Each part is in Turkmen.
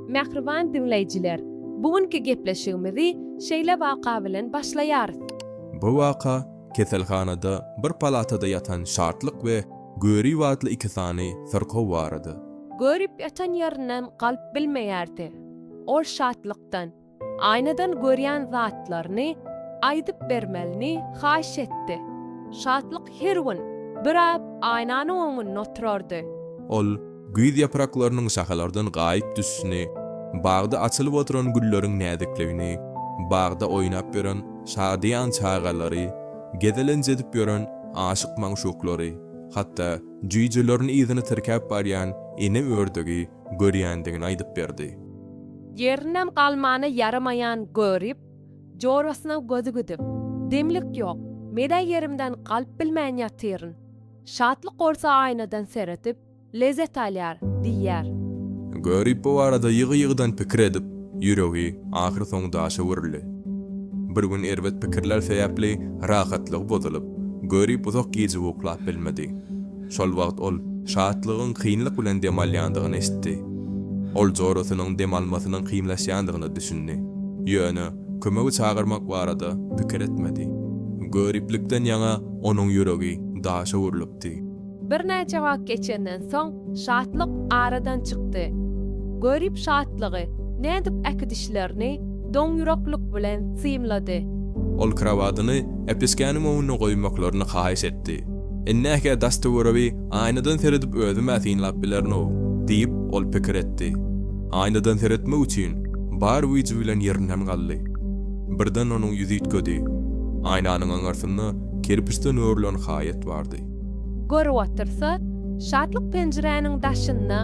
Mähriban diňleýjiler, bu günki gepleşigimizi şeýle waka bilen başlaýarys. Bu waka keselhanada bir palatada ýatan Şatlyk we Görip atly iki sany syrkaw barada. Görip ýatan ýerinden galyp bilmeýärdi. Ol Şatlykdan. Aýnadan görýän zatlaryny aýdyp bermelini haýyş etdi. Şatlyk her gün biraz aýnanyň öňünde oturardy. Ol güýz ýapraklarynyň şahalardan gaýyp düşüşini, bagda açylyp oturan gülleriň näzikligini, bagda oýnap ýören şadyýan çagalary, gezelenç edip ýören aşyk-magşuklary, hatda jüýjelerini yzyna tirkäp barýan ene ördegi görýändigini aýdyp berdi. Ýerinem galmana ýaramaýan görip, jorasyna gözi gidip, demlik ýok, men-ä ýerimden galyp bilmän ýatyryn. Şatlyk bolsa aýnadan seredip, lezzet alýar, diýýär. Görip bu barada ýygy-ýygydan pikir edip, ýüregi ahyrsoňy daşa öwrüldi. Bir gün erbet pikirler sebäpli rahatlygy bozulyp, Görip uzak gije uklap bilmedi. Şol wagt ol Şatlygyň kynlyk bilen dem alýandygyny eşitdi. Ol jorasynyň dem almasynyň kynlaşýandygyna düşündi. Ýöne kömegi çagyrmak barada pikir etmedi. Göriplikden ýaňa onuň ýüregi daşa öwrülipdi. Birnäçe wagt geçenden soň Şatlyk aradan çykdy. Görip Şatlygy nädip äkidişlerini Doňýüreklik bilen synlady. Ol krowadyny Äpeskäniň öňünde goýmaklaryny haýyş etdi. Innäke daş-töweregi aýnadan seredip özüm-ä synlap bilerin-ow, diýip, ol pikir etdi. Aýnadan seretmek üçin bar güýji bilen ýerinden galdy. Birden onuň ýüzi üýtgedi. Aýnanyň aňyrsynda kerpiçden örülen haýat bardy. Görüp otyrsa, Şatlyk penjiräniň daşynda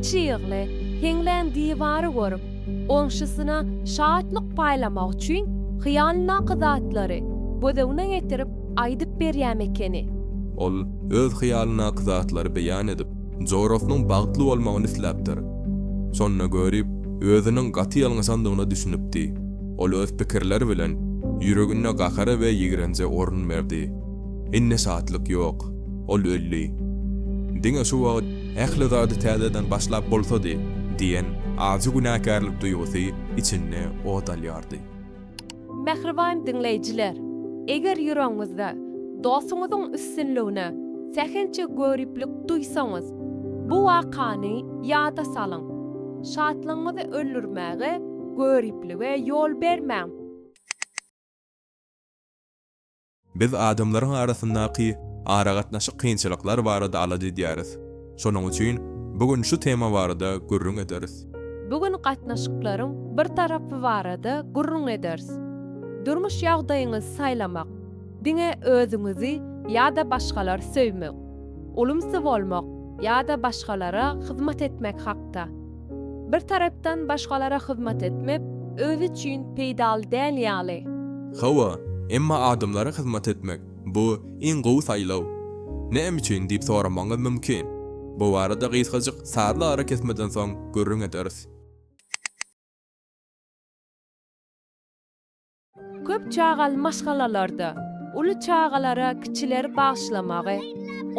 çygly, heňlän diwary görüp, Goňşusyna şatlyk paýlamak üçin hyýalyndaky zatlary göz öňüne getirip aýdyp berýäm ekeni. Ol öz hyýalyndaky zatlary beýan edip, jorasynyň bagtly bolmagyny isläpdir. Şonda Görip özüniň gaty ýalňyşandygyna düşünipdi. Ol öz pikirleri bilen ýüreginde gahara we ýigrenje orun berdi. Indi şatlyk ýok. Ol öldi. Diňe şu wagt. Ähli zady täzeden başlap bolsady diýen ajy günäkärlik duýgusy içinde ot alýardy. Mähriban diňleýjiler! Eger ýüregiňizde dostuňyzyň üstünligine sähelçe göriplik duýsaňyz, bu wakany ýada salyň. Şatlygyňyzy öldürmäge, göriplige ýol bermäň. Biz adamlaryň arasyndaky aragatnaşyk kynçylyklar barada alada edýäris. Şonuň üçin bu gün şu tema barada gürrüň ederis. Bu gün gatnaşyklaryň bir tarapy barada gürrüň ederis. Durmuş ýagdaýyňyzy saýlamak, diňe özüňizi ýa-da başgalary söýmek, ulumsy bolmak ýa-da başgalara hyzmat etmek hakda. Bir tarapdan başgalara hyzmat etmek özi üçin peýdaly däl ýaly. Hawa, emma adamlara hyzmat etmek, bu iň gowy saýlaw. Näme üçin diýip soramagyňyz mümkin. Bu barada gysgajyk sazly arakesmeden soň gürrüň ederis. Köp çagaly maşgalalarda uly çagalara kiçileri bagyşlamagy,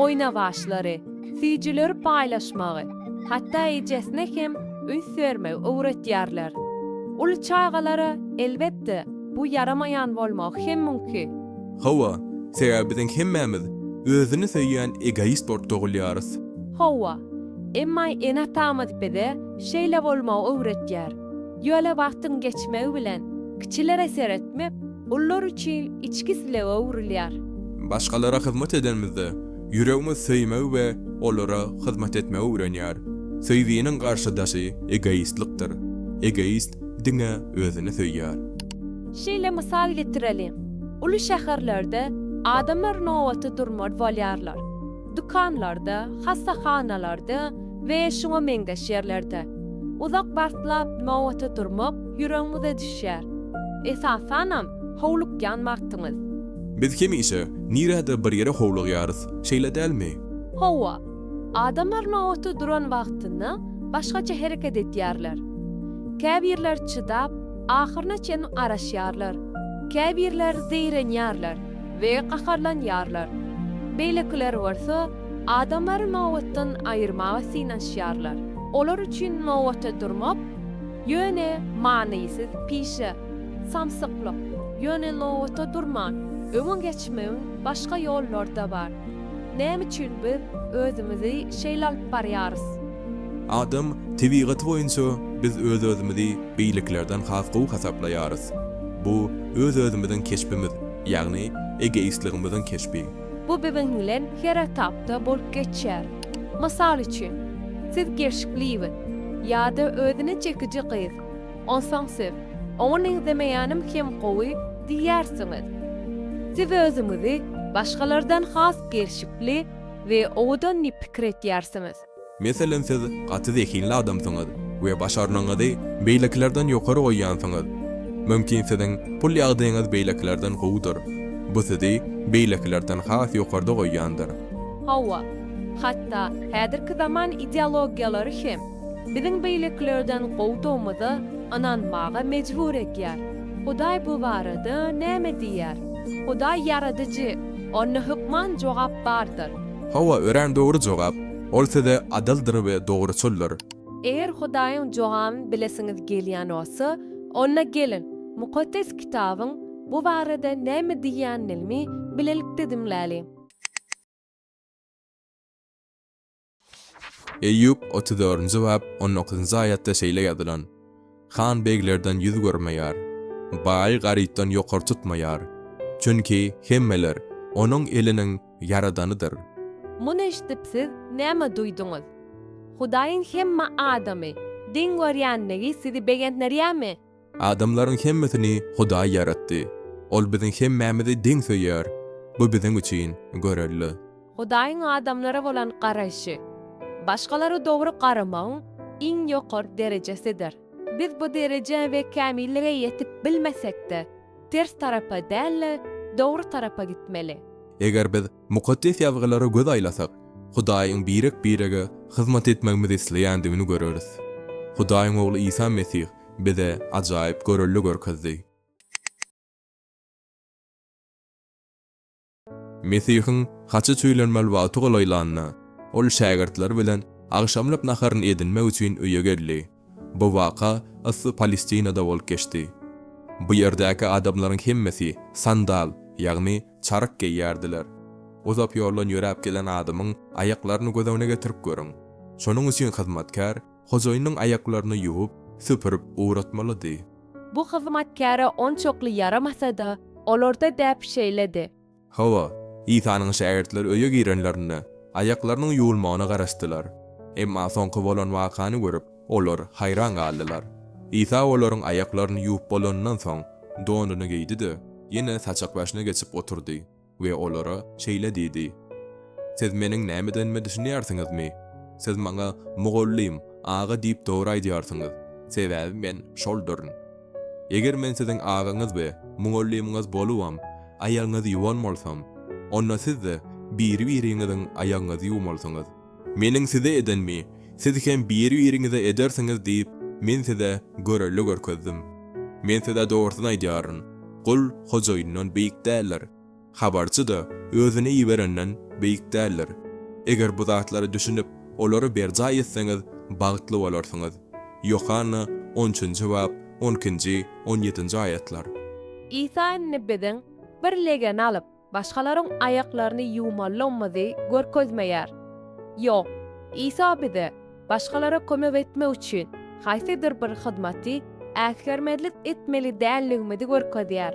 oýnawaçlary, süýjüleri paýlaşmagy, hatda ejesine hem üns bermegi öwretýärler. Uly çagalara, elbetde, bu ýaramaýan bolmagy hem mümkin. Hawa, sebäbi biziň hemmämiz özüni söýýän egoist bolup dogulýarys. Hawa, emma ene-atamyz bize şeýle bolmagy öwretýär. Ýöne wagtyň geçmegi bilen kiçilere seretmek ulylar üçin içki islewe öwrülýär. Başgalara hyzmat edenimizde, ýüregimiz söýmegi we olara hyzmat etmegi öwrenýär. Söýginiň garşydaşy egoistlikdir. Egoist diňe özüni söýýär. Şeýle mysal getireliň, uly şäherlerde adamlar nobaty durmaz bolýarlar. dükanlarda, hassahanalarda we şuňa meňzeş ýerlerde uzak wagtlap nobata durmak ýüregiňize düşýär, esasanam howlukýan wagtyňyz. Biz hemişe nirädir bir ýere howlugýarys, şeýle dälmi? Hawa. Adamlar nobata duran wagtynda başgaça hereket edýärler. Käbirler çydap, ahyryna çenli garaşýarlar, käbirler zeýrenýärler. we gaharlanýarlar. Beýlekiler bolsa adamlary nobatdan aýyrmaga synanyşýarlar. Olar üçin nobata durmak, ýöne manysyz pişe, samsyklyk. Ýöne nobata durman, öňe geçmegiň başga ýollary-da bar. Näme üçin biz özümizi şeýle alyp barýarys? Adam tebigaty boýunça biz öz-özümizi beýlekilerden has gowy hasaplaýarys. Bu öz-özümiziň keşbimiz, ýagny egoistligimiziň keşbi. Bu biziň bilen her etapda bolup geçýär. Mysal üçin, siz gerşiklibiz ýa-da özüne çekiji gyz. Onsoň siz, Oňa meňzemeýänim hem gowy diýýärsiňiz. Siz özüňizi başgalardan has gerşikli we owadan diýip pikir etýärsiňiz. Meselem siz gaty zehinli adamsyňyz we başarnygyňyzy beýlekilerden ýokary goýýansyňyz. Mümkin siziň pul ýagdaýyňyz beýlekilerden gowudyr. Bu sizi beýlekilerden has ýokarda goýýandyr. Hawa, hatda häzirki zaman ideologiýalary hem biziň beýlekilerden gowudygymyza ynanmaga mejbur edýär. Hudaý bu barada näme diýýär? Hudaý ýaradyjy, onda hökman jogap bardyr. Hawa, örän dogry jogap. Ol size adyldyr we dogruçyldyr. Eger Hudaýyň jogabyny bilesiňiz gelýän bolsa, onda geliň, Mukaddes Kitabyň bu barada näme diýýänini bilelikde diňläliň. Eýýup, otuz dördünji bap, on dokuzynjy aýatda şeýle ýazylan. Han beglerden ýüz görmeýär. Baýy garypdan ýokary tutmaýar. Çünki hemmeler onuň eliniň ýaradanydyr. Muny eşidip siz näme duýduňyz? Hudaýyň hemme adamy deň görýänligi sizi begendirýärmi? Adamlaryň hemmesini Hudaý ýaratdy. Ol biziň hemmämizi deň söýýär. Bu biziň üçin görelde. Hudaýyň adamlara bolan garaýşy, başgalara dogry garamagyň iň ýokary derejesidir. Biz bu derejä we kämillige ýetip bilmesek-de, ters tarapa däl-de, dogry tarapa gitmeli. Eger biz Mukaddes Ýazgylara göz aýlasak, Hudaýyň birek-birege hyzmat etmegimizi isleýändigini göreris. Hudaýyň Ogly Isa Mesih bize ajaýyp görelde görkezdi. Mesihiň haça çüýlenmeli wagty golaýlanda, ol şägirtleri bilen agşamlyk naharyny edinmek üçin öýe geldi. Bu waka yssy Palestinada bolup geçdi. Bu ýerdäki adamlaryň hemmesi sandal, ýagny çaryk geýýärdiler. Uzak ýoldan ýöräp gelen adamyň aýaklaryny göz öňüne getirip görüň. Şonuň üçin hyzmatkär hojaýynyň aýaklaryny ýuwup, süpürip ugratmalydy. Bu hyzmatkäre onçakly ýaramasa-da, olarda däp şeýledi. Hawa, Isanyň şägirtleri öýe girenlerinde, aýaklarynyň ýuwulmagyna garaşdylar. Emma soňky bolan wakany görüp, olar haýran galdylar. Isa olaryň aýaklaryny ýuwup bolanyndan soň, donuny geýdi-de, ýene saçakbaşyna geçip oturdy. we olara şeýle diýdi, Siz meniň nämedenime düşünýärsiňizmi? Siz maňa Mugallym, aga diýip dogry aýdýarsyňyz, sebäbi men şolduryn. Eger men siziň agaňyz we mugallymyňyz bolubam, aýagyňyzy ýuwan bolsam, onda siz-de biri-biriňiziň aýagyňyzy ýuwmalysyňyz. Meniň size edenimi siz hem biri-biriňize edersiňiz diýip, Men size görelde görkezdim. Men size dogrusyny aýdýaryn, gul hojaýyndan beýik däldir, habarçy-da özüni iberenden beýik däldir. Eger bu zatlara düşünip, olary berjaý etseňiz, bagtly bolarsyňyz. Ýohanna on üçünji bap, on ikinji, on ýedinji aýatlar. Isa indi biziň bir legeni alyp, başgalaryň aýaklaryny ýuwmalymyzy görkezmeýär. Ýok, Isa bize başgalara kömek etmek üçin haýsydyr bir hyzmaty äsgermezlik etmeli däldigimizi görkezýär.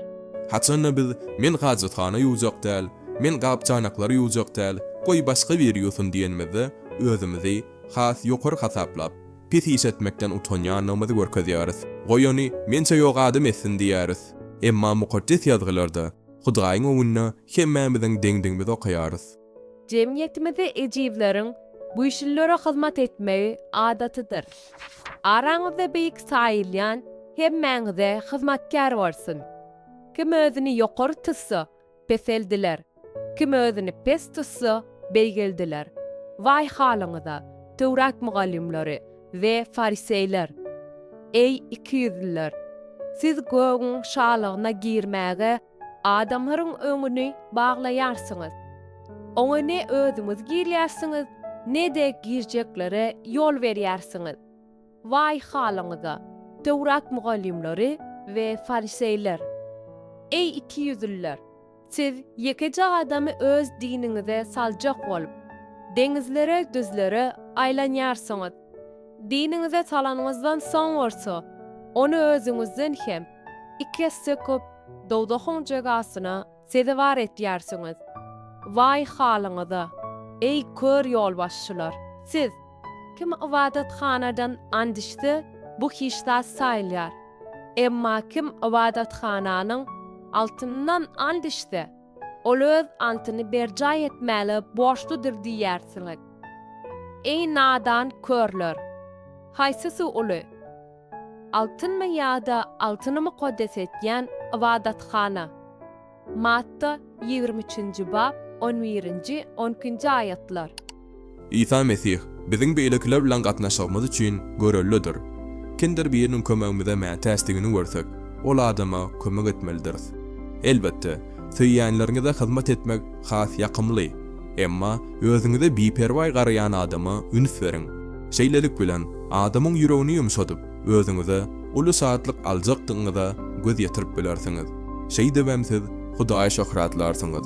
Haçan-da biz, Men hajathana ýuwjak däl, men gap-çanaklary ýuwjak däl, goý, başga biri ýuwsun diýenimizde, özümizi has ýokary hasaplap, pis iş etmekden utanýandygymyzy görkezýäris. Goý, ony mençe ýok adam etsin diýýäris. Emma Mukaddes Ýazgylarda, Hudaýyň öňünde hemmämiziň deňdigimizi okaýarys. Jemgyýetimizde ejizleriň güýçlülere hyzmat etmegi adatydyr. Araňyzda beýik saýylýan hemmäňize hyzmatkär bolsun. Kim özüni ýokary tutsa, peseldiler, kim özüni pes tutsa, beýgeldiler. Waý halyňyza, Töwrat mugallymlary! We fariseýler, Eý, ikiýüzlüler! Siz gögüň Şalygyna girmäge adamlaryň öňüni baglaýarsyňyz. Oňa ne özüňiz girýärsiňiz, ne-de girjeklere ýol berýärsiňiz. Waý halyňyza, Töwrat mugallymlary we fariseýler! Eý, ikiýüzlüler! Siz ýekeje adamy öz diniňize saljak bolup, deňizlere, düzlere aýlanýarsyňyz. Diniňize salanyňyzdan soň bolsa, ony özüňizden hem iki esse köp dowzahyň jezasyna sezewar etýärsiňiz. Waý halyňyza, eý, kör ýolbaşçylar! Siz. Kim ybadathanadan and içse, bu hiç zat saýylýar. Emma kim ybadathananyň altynyndan and içse, ol öz antyny berjaý etmäle borçludyr diýýärsiňiz. Eý nadan körler! Haýsysy uly? Altynmy ýa-da altyny mukaddes edýän ybadathana? Matta, ýigrimi üçünji bap, on birinji, on ikinji aýatlar. Isa Mesih biziň beýlekiler bilen gatnaşygymyz üçin görellidir. Kimdir biriniň kömegimize mätäçdigini görsek, ol adama kömek etmelidiris. Elbetde, söýýänleriňize hyzmat etmek has ýakymly. Emma özüňize biperwaý garaýan adama üns beriň. Şeýlelik bilen, adamyň ýüregini ýumşadyp, özüňize uly şatlyk aljakdygyňyza göz ýetirip bilersiňiz. Şeýdibem siz Hudaýy şöhratlarsyňyz.